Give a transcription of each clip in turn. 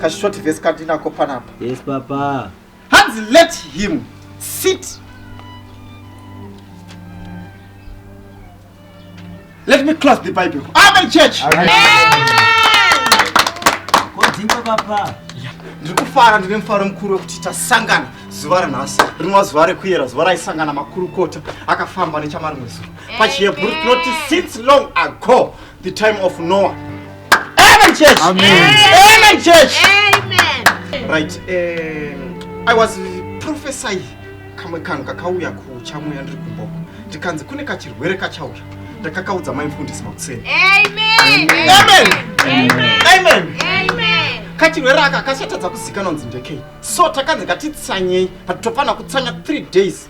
kashort vese kandinako panapa yes papa hanzi let him sit let me close the bible amen church kodzinga papa ndiri kufara ndine mufaro mukuru wekuti tasangana zuva ranhasi rinova zuva rekuyera zuva raisangana makurukota akafamba nechamarimwe zuva pachihebhuru tinoti since long ago The time of Noah. Amen church. Amen. Amen church. Amen. Right. Um, I was prophesy kamwe kanhu kakauya kuchamuya ndiri kumboko ndikanzi kune kachirwere kachauya ndakakaudza mai mfundisi makuseni Amen. Amen. Amen. Amen. Amen. kachirwere aka kashatadza kuzikanwa nzi ndekei so takanzi ngatitsanyei but tofana kutsanya 3 days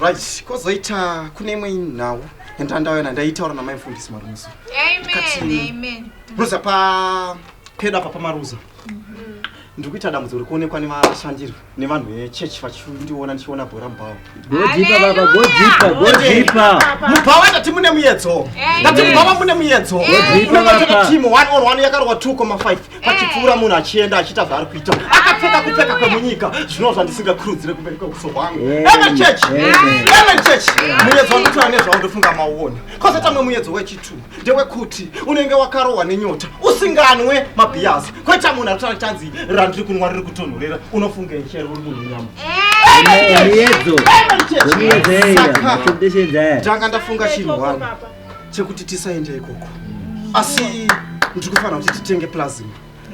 right kozoita kune imwe nhau yandandayona ndaitaura namaifundisi maruza ruza pa pedo apa pamaruza mm-hmm. ndiri kuita dambudzo ri kuonekwa nevashandiri nevanhu vechechi vachindiona ndichiona bhora mubhawa mubhawa ndati mune muyedzo ndati mubhawa mune muyedzo unengatoti team one or one yakarohwa two koma five achipfuura munhu achienda achiita zvaari kuita akapfeka kupfeka kwemunyika zvinova zvandisingakurudzire kumberi kweuso hwangu evechechi evechechi muyedzo wandotora nezvawo ndofunga mauona kwose tamwe muyedzo wechitu ndewekuti unenge wakarohwa nenyota usinganwe mabhiyazi kweta munhu arikutaura chanzi randiri kunwa riri kutonhorera unofunga ichere uri munhu nyama muyedzo muyedzo eya ndanga ndafunga chinhu wani chekuti tisaende ikoko asi ndiri kufanira kuti titenge plasm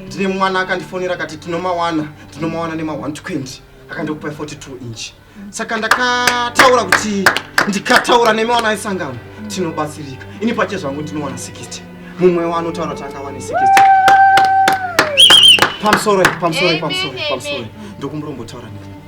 ndine mwana akandifonera akati tinomawana tinomawana nema 120 akandokupai 42 inch saka ndakataura kuti ndikataura nemi wana isangano tinobatsirika ini pache zvangu ndinowana 60 mumwe wanotaura kuti angawane 60 pamusoro pamusoro pamusoro pamusoro ndokumurombotaura nini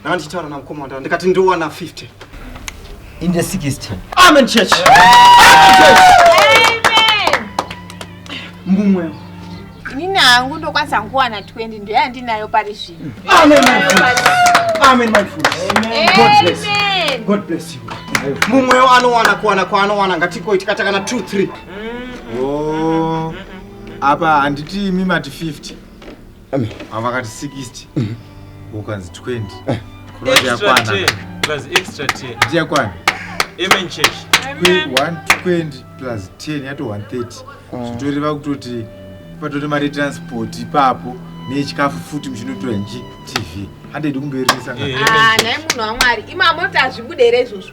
Ndakanditaura na mukoma wandava ndikati ndowana 50. In the 60. Amen church. Amen church. Amen. Mumwe. Nina hangu ndokwanisa kuwana 20 ndiyo yandinayo pari zvino. Amen my friend. Amen my friend. Amen. God bless. Amen. God bless you. Mumwe anowana kuwana kwaanowana ngatiko itikata kana 2 3. Oh. Apa handiti imi mati 50. ava vakati 60 ukanzi 20 kuroti yakwana ndiyakwana amen church 120 plus 10 yato 130 ah. zvitoreva kutoti patori mari transport ipapo nechikafu futi muchinotora nji tv handidi kumberesanaa ah, munhu wamwari imamota azvibude here izvozvo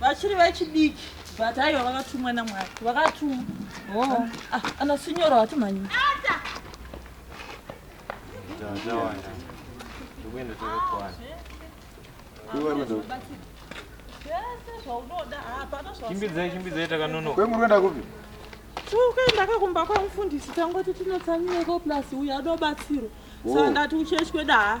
vachiri vachidiki but aiwa vakatumwa namwari vakatumwa oh. ah, ana sinyoro hatimhanyii chimbidzai chimbidzai takanonoka kwemuri kuenda kupi tikuenda kakumba kwamufundisi tangoti tinotsamira ko plus uyo adobatsiro saka ndati uchechi kwedaa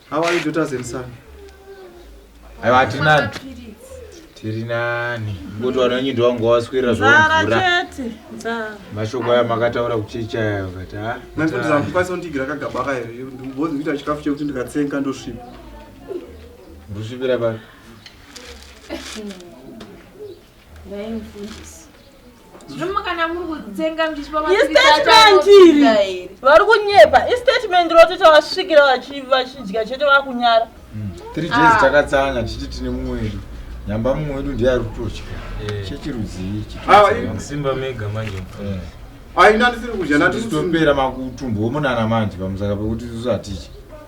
How are you daughters and son? Aiwa hatinani. Tiri nani. Ngoto wananyi ndo wangu waswera zvavura. Nzara chete. Nzara. Mashoko aya makataura kuchicha yayo kati ha. Manje kuti zamu kwaso ndigira kagaba kayo. Ndimbozi kuita chikafu chekuti ndikatsenga ndosvipa. Ndosvipira pa. Ndaimfundisa. vari kunyepa istatement rotoita vasvikira vachidya chete vakunyara hmm. three days ah. takatsanya tichiti tine mumweri nyamba mumwe wedu ndiye ari kutotya eh. chechirudzii chisimba ah, mega manje eh. aina ah, ndisiri kudya natitopera makutumbo omunana manje pamusaka pekuti tisu hatidyi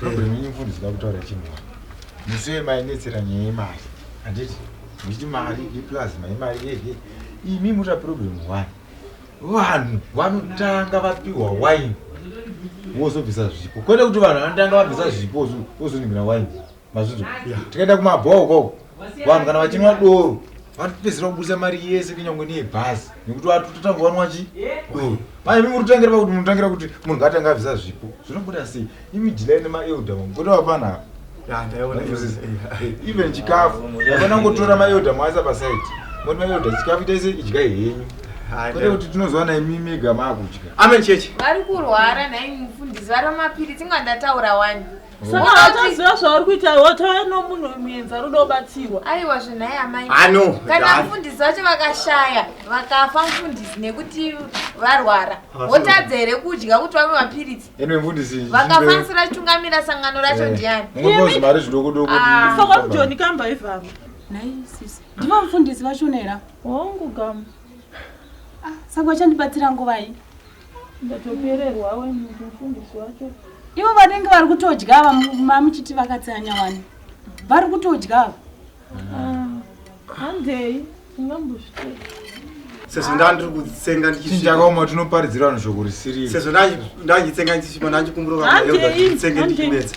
problem yenyu mfundi zida kutaura chinhu musiwe mainetsera nyaya yemari handiti muchiti mari iplus mai mari yeye imi muta problem one vanhu vanotanga vapiwa wine wozobvisa zvipo kwete kuti vanhu vanotanga vabvisa zvipo wozoningira wine mazvizo tikaenda kumabhoo koko vanhu kana vachinwa doro vatipedzera kubusa mari yese kunyangwe neyebhazi nekuti vatototanga vanwa chi doro manje mi muritotangira pakuti munotangira kuti munhu ngaatanga avisa zvipo zvinobuda sei imi dilai nemaelda vangu kuti vapanhava even chikafu vana ngotora maelda mwaisa pasaidi moti maelda chikafu itaise idyai henyu kwete kuti tinozowana imi mega maakudya amen chechi vari kurwara nhai mufundisi vari vamapiri tinga ndataura wani saka hataziva zvauri kuita watauya nomunhu muenza rudo obatsirwa aiwa zvenhai amai ano kana mfundisi vacho vakashaya vakafa mfundisi nekuti varwara votadza here kudya kuti vave mapiritsi vakafanisira chitungamira sangano racho eh, ndiani mari zvidokodoko ah. saka mujoni kamba ivamo nhai sisi ndivo mfundisi vachonera hongu gamu ah, saka vachandibatsira nguvai ndatopererwa we mufundisi wacho ivo vanenge vari kutodya ava mamuchiti vakatsanya wani vari kutodya ava ah, handei tingambozvitei sezvo ndaa ndiri kutsenga ndichichakaoma tinoparidzira vanhu shoko risiriri sezvo ndachitsenga ndichichima ndachikumbura vaeldaatsenge ndichimedza